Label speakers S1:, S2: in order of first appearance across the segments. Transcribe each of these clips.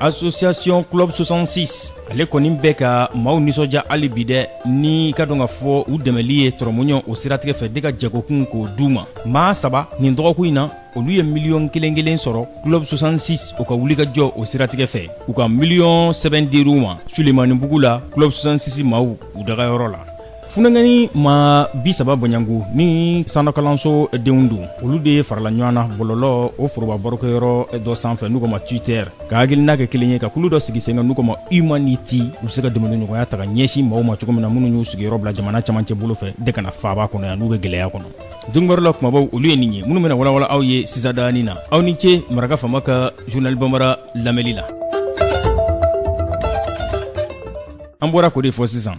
S1: association club 66 ale kɔni bɛ ka maaw nisɔndiya hali bi dɛ n'i k'a dɔn k'a fɔ u dɛmɛli ye tɔrɔmuɲɔ o siratigɛ fɛ de ka jagokun k'o d'u ma maa saba nin dɔgɔkun in na olu ye miliyɔn kelen kelen sɔrɔ club 66 o ka wulikajɔ o siratigɛ fɛ u ka miliyɔn sɛbɛn dir'u ma sulemanibugu la club 66 maaw u dagayɔrɔ la funankɛnin maa bi saba bɔɲɔgɔnko ni sanɔkalanso denw don olu de farala ɲɔgɔn na bɔlɔlɔ o foroba barokɛyɔrɔ dɔ sanfɛ n'u k'o ma twitter ka hakilina kɛ kelen ye ka kulu dɔ sigi sen kan n'u k'o ma humanity u bɛ se ka dɛmɛdonɲɔgɔnya ta ka ɲɛsin maaw ma cogo min na minnu y'u sigiyɔrɔ bila jamana camancɛ bolo fɛ de ka na faaba kɔnɔ yan n'u bɛ gɛlɛya kɔnɔ donkibaru la kumabaw olu ye nin ye minnu bɛna walawala aw ye sisan dani na aw ni ce maraka fama ka journal bambara lamɛli la an bɔra k'o de fɔ sisan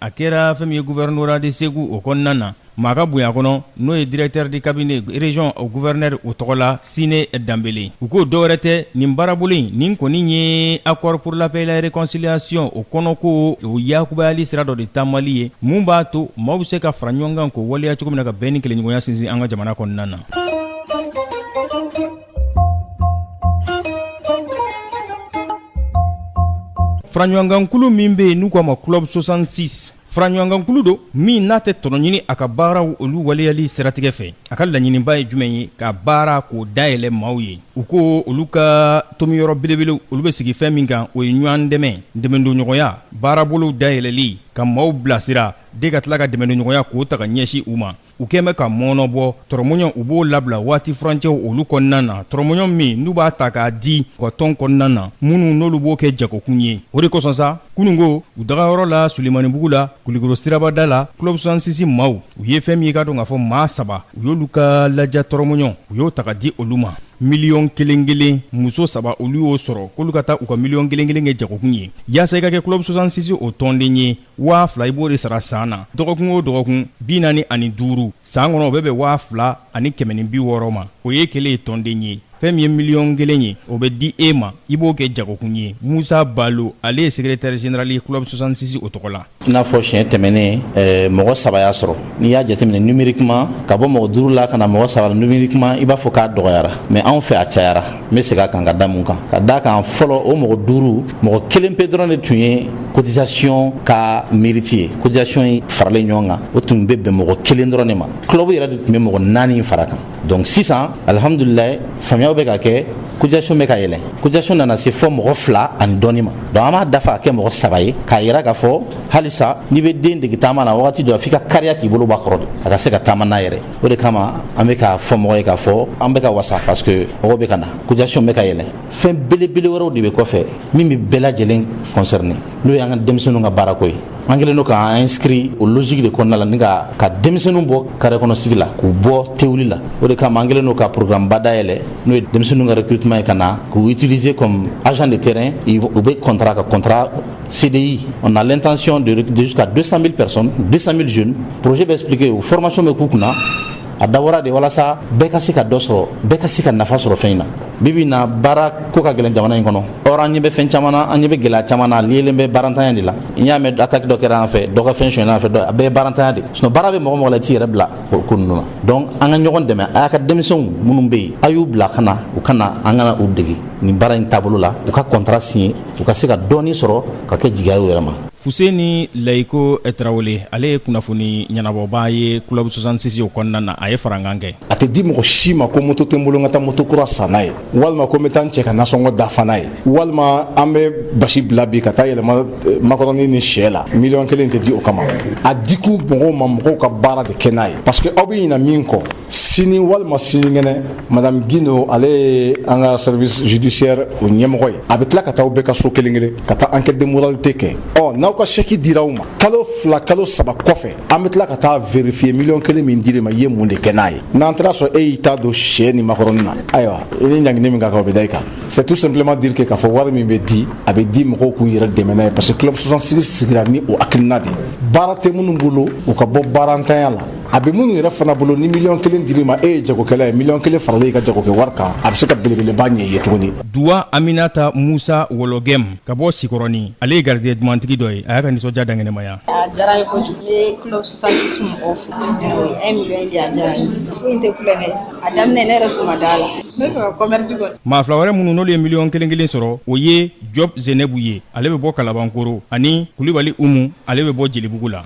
S1: a kɛra fɛn min ye gouvernorat de Segou o kɔnɔna na, maa ka bonya kɔnɔ, n'o ye directeur de cabinet région o gouverneur o tɔgɔ la Sine Danbele, u ko dɔwɛrɛ tɛ, nin baarabolo in, nin kɔni ye accord pour la paix et la réconciliation o kɔnɔko o yakubayali sira dɔ de taamali ye, min b'a to maaw bɛ se ka fara ɲɔgɔn kan k'o waleya cogo min na, ka bɛn ni kelenɲɔgɔnya sinsin an ka jamana kɔnɔna na. faraɲɔgɔnkankulu min bɛ yen n'u k'a ma club 66 faraɲɔgɔnkankulu don min n'a tɛ tɔnɔ ɲini a ka baaraw olu waleyali siratigɛ fɛ a ka laɲiniba ye jumɛn ye ka baara k'o dayɛlɛ maaw ye u ko olu ka tomiyɔrɔ belebelew olu bɛ sigi fɛn min kan o ye ɲɔgɔn dɛmɛ dɛmɛdonɲɔgɔnya baarabolow dayɛlɛli ka maaw bilasira de ka tila ka dɛmɛdonɲɔgɔnya k'o ta ka ɲɛsin u ma u kɛn bɛ ka mɔɔnɔbɔ tɔrɔmɔɲɔn u b'o labila waati furancɛw olu kɔnɔna na tɔrɔmɔɲɔn min n'u b'a ta k'a di u ka tɔn kɔnɔna na minnu n'olu b'o kɛ jagokun ye o de kosɔn sa kununko u dagayɔrɔ la sulemanibugu la kulikoro siraba da la club 66 maaw u ye fɛn min ye i k'a dɔn k'a fɔ maa saba u y'olu ka laja tɔrɔmɔɲɔn u y'o ta k'a di olu ma miliyɔn kelen kelen muso saba olu y'o sɔrɔ k'olu ka taa u ka miliyɔn kelen kelen kɛ jagokun ye yaasa i ka kɛ club 66 o tɔnden ye waa fila i b'o de sara san na dɔgɔkun o dɔgɔkun bi naani ani duuru san kɔnɔ o bɛ bɛn waa fila ani kɛmɛ ni bi wɔɔrɔ ma o ye kelen ye tɔnden ye fɛn min ye miliyɔn kelen ye o bɛ di e ma i b'o kɛ jagokun ye musa balo ale ye secrétaire général ye club 66 o tɔgɔ la i n'a fɔ siɲɛ
S2: tɛmɛnen eh, mɔgɔ saba y'a sɔrɔ n'i y'a jateminɛ numériquement ka bɔ mɔgɔ duuru la ka na mɔgɔ saba la numériquement i b'a fɔ k'a dɔgɔyara mais anw fɛ a cayara n bɛ segin a kan ka da mun kan ka d'a kan fɔlɔ o mɔgɔ duuru mɔgɔ kelen pe dɔrɔn de tun ye cotisation ka mérite ye cotisation in faralen ɲɔgɔn kan o tun bɛ bɛn mɔgɔ kelen dɔrɔn de ma club yɛrɛ de tun bɛ mɔgɔ naani far'a kan donc sisan alihamudulilayi faamuyaw bɛ ka kɛ cotisation bɛ ka yɛlɛ cotisation nana se fo mɔgɔ fila ani dɔɔni ma donc an b'a dafa k'a kɛ mɔgɔ saba ye k'a yira k'a fɔ halisa n'i bɛ den dege taama na wagati dɔ la f'i ka kariya k'i bolo bɔ a kɔrɔ de a ka se ka taama n'a yɛrɛ o de kama an bɛ k'a fɔ mɔgɔ ye k'a fɔ an bɛ ka wasa parce que mɔgɔ bɛ ka na cotisation bɛ ka yɛlɛ fɛn belebele wɛrɛw de bɛ kɔfɛ min bɛ bɛɛ lajɛlen concerner n'o y'an ka denmisɛnninw ka baarako ye an kɛlen don k'an inscrit o logique de kɔnɔna la ni ka denmisɛnninw bɔ carré kɔnɔ sigi la k'u bɔ tewuli la o de kama an kɛlen don ka programme ba dayɛlɛ n'o ye denmisɛnninw ka recrutement ye ka na k'u utiliser comme agent de terrain u bɛ contrat ka contrat CDI, on a l'intention de recruter jusqu'à 200 000 personnes, 200 000 jeunes. projet bɛ expliquer o formation bɛ k'u kunna, a dabɔra de walasa bɛɛ ka se ka dɔ sɔrɔ bɛɛ ka se ka nafa sɔrɔ fɛn in na bi bi in na baara ko ka gɛlɛn jamana in kɔnɔ or an ɲɛ bɛ fɛn caman na an ɲɛ bɛ gɛlɛya caman na liyelen bɛ baarantanya de la n'i y'a mɛn attaque dɔ kɛra an fɛ dɔ ka fɛn sonyɛna an fɛ a bɛɛ ye baarantanya de sinon baara bɛ mɔgɔ o mɔgɔ la i t'i yɛrɛ bila o ko ninnu na donc an ka ɲɔgɔn dɛmɛ a y'a ka denmisɛnw minnu bɛ yen a y'u bila ka na u ka na an ka na u dege nin baara in taabolo la u ka contrat signer u ka se ka dɔɔni sɔrɔ ka kɛ jigiya ye u yɛrɛ ma. Fuseni
S1: Layiko Tarawele, ale ye kunnafoni ɲɛnabɔbaa ye club 66 o kɔnɔna na, a ye farankan kɛ. A tɛ di mɔgɔ si ma
S3: ko moto tɛ n bolo n ka taa moto kura san n'a ye, walima ko n bɛ taa n cɛ ka nasɔngɔ dafa n'a ye, walima an bɛ basi bila bi ka taa yɛlɛma makɔrɔni ni shɛ la, miliyɔn kelen tɛ di o kama. A dikun mɔgɔw ma, mɔgɔw ka baara de kɛ n'a ye parce que aw bɛ ɲinɛ min kɔ, sini walima sinikɛnɛ madame gino ale ye an ka service judiciaire o ɲɛmɔgɔ ye a bɛ tila ka taa aw bɛɛ ka so kelen kelen ka taa enquête de moralité kɛ ɔ n'aw ka chèque dira aw ma kalo fila kalo saba kɔfɛ an bɛ tila ka taa vérifier miliyɔn kelen min dir'i ma i ye mun de kɛ n'a ye n'an taar'a sɔrɔ e y'i ta don shɛ ni makɔrɔni na ayiwa i ni ɲangini min ka kan o bɛ da i kan c'est tout simplement dire que k'a fɔ wari min bɛ di a bɛ di mɔgɔw k'u yɛrɛ dɛmɛ n'a ye parce que club 66 sigira ni o hakilina de ye baara tɛ minnu bolo u ka bɔ baarantanya la a bɛ minnu yɛrɛ fana bolo ni miliyɔn kelen dir'i ma e ye jagokɛla ye miliyɔn kelen faralen i ka jagokɛ wari kan a bɛ se ka belebeleba ɲɛ i ye tuguni duwa
S1: aminata musa wɔlɔgɛm ka bɔ sikɔrɔni ale ye garijɛgɛ dumantigi dɔ ye a y'a ka nisɔndiya dankɛnɛmaya a diyara n ye kojugu
S4: n ye club 66 mɔgɔw fo un million di a diyara n ye ko in tɛ tulonkɛ ye a daminɛ ne yɛrɛ tun ma da a la ne b'a fɛ ka commerce kɔni maa fila wɛrɛ minnu n'olu ye miliyɔn
S1: kelen kelen sɔrɔ o ye job zenebu ye ale bɛ bɔ kalabankoro ani kulibali umu ale bɛ bɔ jelibugu la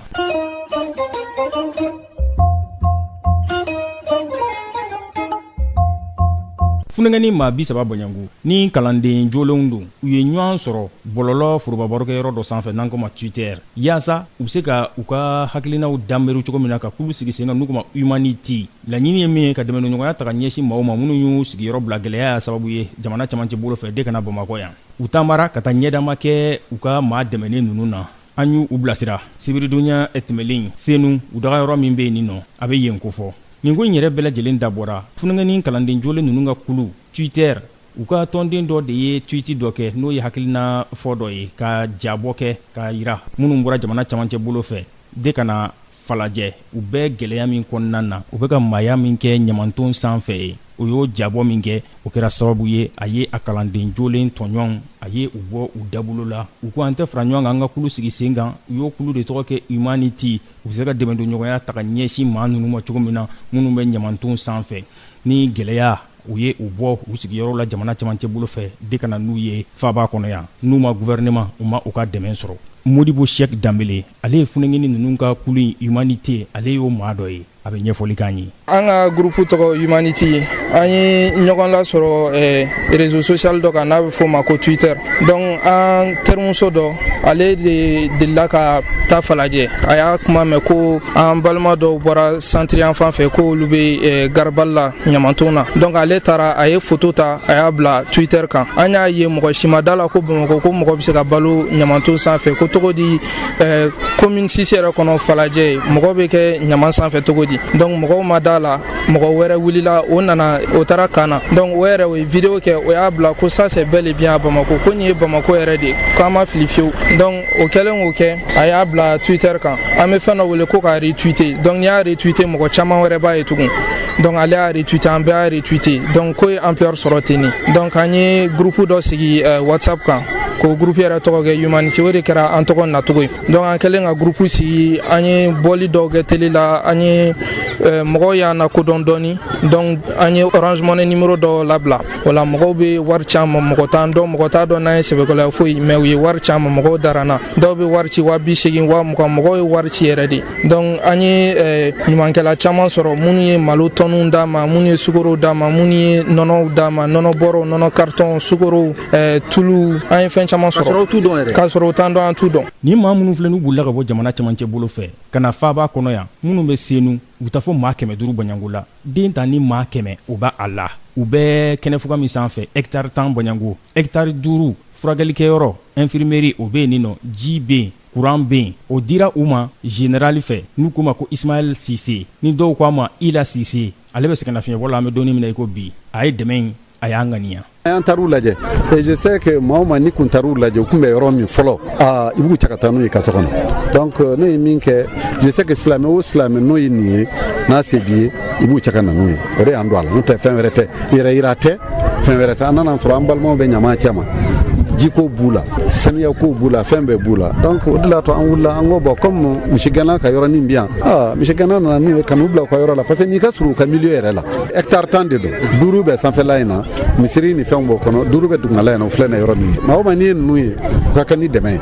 S1: Funankɛnin maa bi saba bɔɲɔgɔnko ni kalanden jolenw don u ye ɲɔgɔn sɔrɔ bɔlɔlɔ forobabarokɛyɔrɔ dɔ sanfɛ n'an ko ma Twitter yaasa u bɛ se ka u ka hakilinaw danbri cogo min na ka kulu sigi sen kan n'u ko ma humanity laɲini ye min ye ka dɛmɛɲɔgɔnya ta ka ɲɛsin maaw ma minnu y'u sigiyɔrɔ bila gɛlɛyaya sababu ye jamana camancɛ bolo fɛ de ka na bamakɔ yan u taamara ka taa ɲɛdama kɛ u ka maa dɛmɛen ninnu na an y'u bilasira sibiridonya tɛmɛlen senu u dagayɔrɔ min bɛ yen nin nɔ a bɛ yen kofɔ nin ko in yɛrɛ bɛɛ lajɛlen dabɔra funankɛnin kalanden jolen ninnu ka kulu twitter u ka tɔnden dɔ de ye tweet dɔ kɛ n'o ye hakilina fɔ dɔ ye ka jabɔ kɛ k'a jira minnu bɔra jamana camancɛ bolo fɛ de ka na falajɛ u bɛ gɛlɛya min kɔnɔna na u bɛ ka maaya min kɛ ɲamanton sanfɛ yen o y'o jabɔ min kɛ o kɛra sababu ye a ye a kalanden jolen tɔɲɔn a ye u bɔ u dabolo la u ko an tɛ fara ɲɔgɔn kan an ka kulu sigi sen kan u y'o kulu de tɔgɔ kɛ humanity u bɛ se ka dɛmɛdonɲɔgɔnya ta ka ɲɛsin maa ninnu ma cogo min na minnu bɛ ɲamanton sanfɛ ni gɛlɛya u ye u bɔ u sigiyɔrɔ la jamana camancɛ bolo fɛ de ka na n'u ye faaba kɔnɔ yan n'u ma gouvernement u ma u ka dɛmɛ sɔrɔ modibo sɛki danbele ale ye funengini ninnu ka kulu in humanité ale y'o maa dɔ ye a bɛ ɲɛfɔli k'an ye an ka groupe tɔgɔ
S5: humanity an ye ɲɔgɔn lasɔrɔ eh, réseau social dɔ kan n'a bɛ f'o ma ko twitter donc an terimuso dɔ ale de delila ka taa falajɛ a y'a kuma mɛn ko an balima dɔw bɔra centre yan fan fɛ ko olu bɛ eh, garabali la ɲamanton na donc ale taara a ye foto ta a y'a bila twitter kan an y'a ye mɔgɔ si ma da la ko bamakɔ ko mɔgɔ bɛ se ka balo ɲamanton sanfɛ ko cogo di eh, commune six yɛrɛ kɔnɔ falajɛ mɔgɔ bɛ kɛ ɲaman sanfɛ cogo di donc mɔgɔw ma da la mɔgɔ wɛrɛ wulila o nana o taara ka na donc o yɛrɛ o ye vidéo kɛ o y'a bila ko ça c'est bel et bien à bamako ko nin ye bamako yɛrɛ de k'an ma fili fiyewu donc o kɛlen k'o kɛ a y'a bila twitter kan an bɛ fɛn dɔ wele ko ka retweeter donc n'i y'a retweeter mɔgɔ caman wɛrɛ b'a ye tugun donc ale y'a retweeter an bɛɛ y'a retweeter donc ko ye ampleur sɔrɔ tenni donc an ye groupe dɔ sigi euh, whatsapp kan k'o groupe yɛrɛ tɔgɔ kɛ humanity o de kɛra an tɔgɔ nacogo ye donc an kɛlen ka groupe sigi an ye bɔli dɔw kɛ tele la an ye euh, mɔgɔw y'an lakodɔn dɔɔni donc an ye orange money numéro dɔ labila o la mɔgɔw bɛ wari ci an ma mɔgɔ t'an dɔn mɔgɔ t'a dɔn n'an ye sɛbɛkɔlɔya foyi mais u ye wari ci an ma mɔgɔw dara an na dɔw bɛ wari ci wa bi seegin wa mugan mɔgɔw ye wari ci yɛrɛ de donc an ye eh, ɲumankɛla caman sɔrɔ minnu ye malo tɔniw d'an ma minnu ye sukorow d'an ma minnu ye nɔnɔw d'an ma nɔnɔ bɔrɔw nɔnɔ karitɔnw sukorow eh, tuluw an ye fɛn caman sɔrɔ k'a sɔrɔ u t'an dɔn an t'u dɔn nin maa minnu filɛ n'u
S1: bolila ka bɔ jamana camancɛ bolo fɛ ka na faaba kɔnɔ yan minnu bɛ senu u taa fo maa kɛmɛ duuru bɔɲɔnko la den ta ni maa kɛmɛ o b'a la u bɛ kɛnɛfuga min sanfɛ hɛkitari tan bɔɲɔnko hɛkitari duuru furakɛlikɛyɔrɔ infirmerie o bɛ yen nin nɔ ji bɛ yen kuran bɛ yen o dira u ma zenerali fɛ n'u k'o ma ko isimayɛli sise ni dɔw ko a ma ila sise ale bɛ sɛgɛnnafiɲɛbɔ la an bɛ don nin min na i ko bi a ye dɛmɛ in a y'an ŋaniya an taar'u
S6: lajɛ et je sais que maa o maa n'i kun taar'u lajɛ u tun bɛ yɔrɔ min fɔlɔ aa i b'u cɛ ka taa n'u ye i ka so kɔnɔ donc euh, ne ye min kɛ je sais que silamɛ o silamɛ n'o ye nin ye n'a se b'i ye i b'u cɛ ka na n'u ye o de y'an don a la n'o tɛ fɛn wɛrɛ tɛ yɛrɛ yira tɛ fɛn wɛrɛ tɛ an nana sɔrɔ an balimaw bɛ ɲaman cɛma jiko b'u la saniya ko b'u la fɛn bɛɛ b'u la donc o de la to an wulila an ko bon comme misigɛnna ka yɔrɔnin bi yan aa misigɛnna nana n'u ye ka n'u bila u ka yɔrɔ la parce que nin ka surun u ka milieu yɛrɛ la hectare tan de don duuru bɛ sanfɛla in na misiri ni fɛnw b'o kɔnɔ duuru bɛ dugumala in na o filɛ na yɔrɔ min maa o maa n'i ye ninnu ye u ka kan ni dɛmɛ ye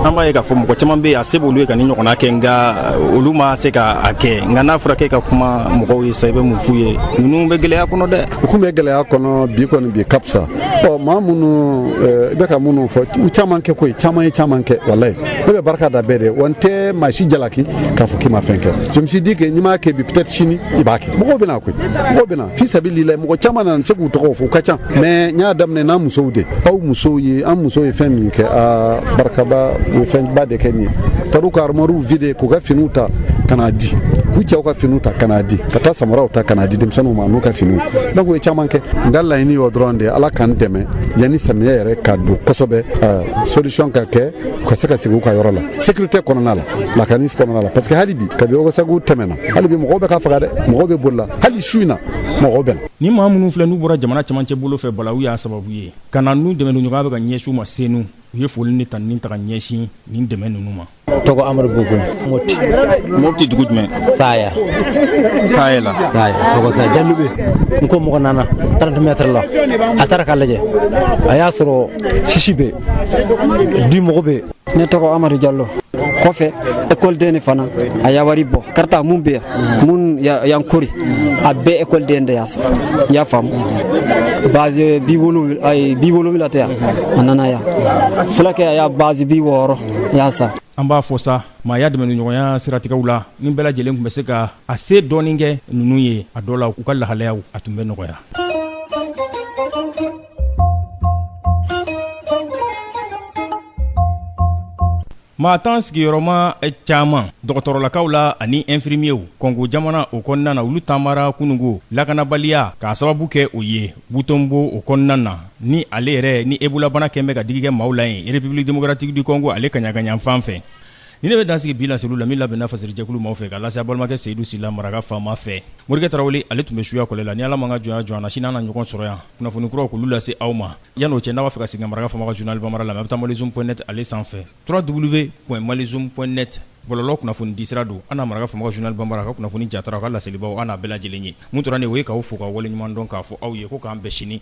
S6: an b'a ye k'a fɔ mɔgɔ
S1: caman bɛ yen a se b'olu ye ka nin ɲɔgɔnna kɛ nka uh, olu ma se ka a kɛ nka n'a fɔra k'e ka kuma mɔgɔw ye sa i bɛ mun f'u ye ninnu bɛ gɛlɛya kɔnɔ dɛ u kun bɛ gɛlɛya
S6: kɔnɔ bi kɔni bi ka fisa ɔ maa minnu uh, i bɛ ka minnu fɔ u caman kɛ koyi caman ye caman kɛ walayi ne bɛ barika da bɛɛ de wa n tɛ maa si jalaki k'a fɔ k'i ma fɛn kɛ je me suis dit que n'i m'a kɛ bi peut-être sini i b'a kɛ mɔgɔw bɛ na koyi mɔgɔw bɛ na fi sabilila mɔgɔ caman nana n tɛ se k'u tɔgɔ fɔ u ka ca mais n y'a daminɛ n'an musow de aw musow ye an musow ye fɛn min kɛ a barikaba u ye fɛnba de kɛ nin ye taar'u ka armoires vide k'u ka finiw ta ka n'a di k'u cɛw ka finiw ta ka n'a di ka taa samaraw ta ka n'a di denmisɛnninw ma n'u ka finiw donc u ye caman kɛ n ka laɲini y'o dɔrɔn de ala k'an dɛmɛ yanni samiyɛ yɛrɛ ka don kosɛbɛ solution ka kɛ u ka se ka sigi u ka yɔrɔ la sécurité kɔnɔna la lakani kɔnɔna la parce que hali bi kabi ogosagu tɛmɛna hali bi mɔgɔw bɛ ka faga dɛ mɔgɔw bɛ boli la hali su in na mɔgɔw bɛ na ni maa minnu filɛ n'u
S1: bɔra jamana camancɛ bolo fɛ balawu y'a sababu ye ka na n'u dɛmɛniɲɔgɔnya bɛ ka ɲɛsin u ma senu u ye foli ni tanuni ta ka ɲɛsin nin dɛmɛ ninnu ma tɔgɔ amadu bogo moti moti dugu jumɛn
S7: saya
S1: saya la saya
S7: tɔgɔ saya jalube n ko mɔgɔ nana trente mètres la a taara k'a lajɛ a y'a sɔrɔ sisi bɛ di mɔgɔ bɛ ne tɔgɔ
S8: amadu jalo kɔfɛ ekɔli den de fana a y'a wari bɔ karata mun bɛ yan mun yan kori a bɛɛ ekɔli den de y'a san i y'a faamu bâche bi wolonwula bi wolonwula tɛ yan a nana yan fulakɛ a y'a bâche bi wɔɔrɔ a y'a san an b'a fɔ
S1: sa maaya dɛmɛniɲɔgɔnya siratigɛw la ni bɛɛ lajɛlen tun bɛ se ka a se dɔɔnin kɛ ninnu ye a dɔ la u ka lahalayaw a tun bɛ nɔgɔya Maa tan sigiyɔrɔma caman dɔgɔtɔrɔlakaw la ani ɛnfirimiyew kɔngo jamana o kɔnɔna na olu taamara kununko lakanabaliya k'a sababu kɛ o ye butɛnbo o kɔnɔna na ni ale yɛrɛ ni ebola bana kɛlen bɛ ka digi kɛ maaw la yen république démocratique du congo ale kaɲagayanfan fɛ Ni ne bɛ dansigi bi laseliw la min labɛnna fasiri jɛkulu maaw fɛ k'a lase aw balimakɛ seyidu sila maraka faama fɛ morikɛ tarawele ale tun bɛ suya kɔlɛ la ni ala m'an ka jɔnya jɔ an na sini an na ɲɔgɔn sɔrɔ yan kunnafoni kuraw k'olu lase aw ma yann'o cɛ n'a b'a fɛ ka segin maraka faama ka journal bambara la a bɛ taa malizoom point net ale sanfɛ trois w point malizoom point net bɔlɔlɔ kunnafoni disira don ani maraka faama ka journal bambara ka kunnafoni jatara ka laselibaw an n'a bɛɛ lajɛlen ye mun tora nin o ye k'aw fo ka waleɲuman dɔn k'a fɔ aw ye ko k'an bɛn sini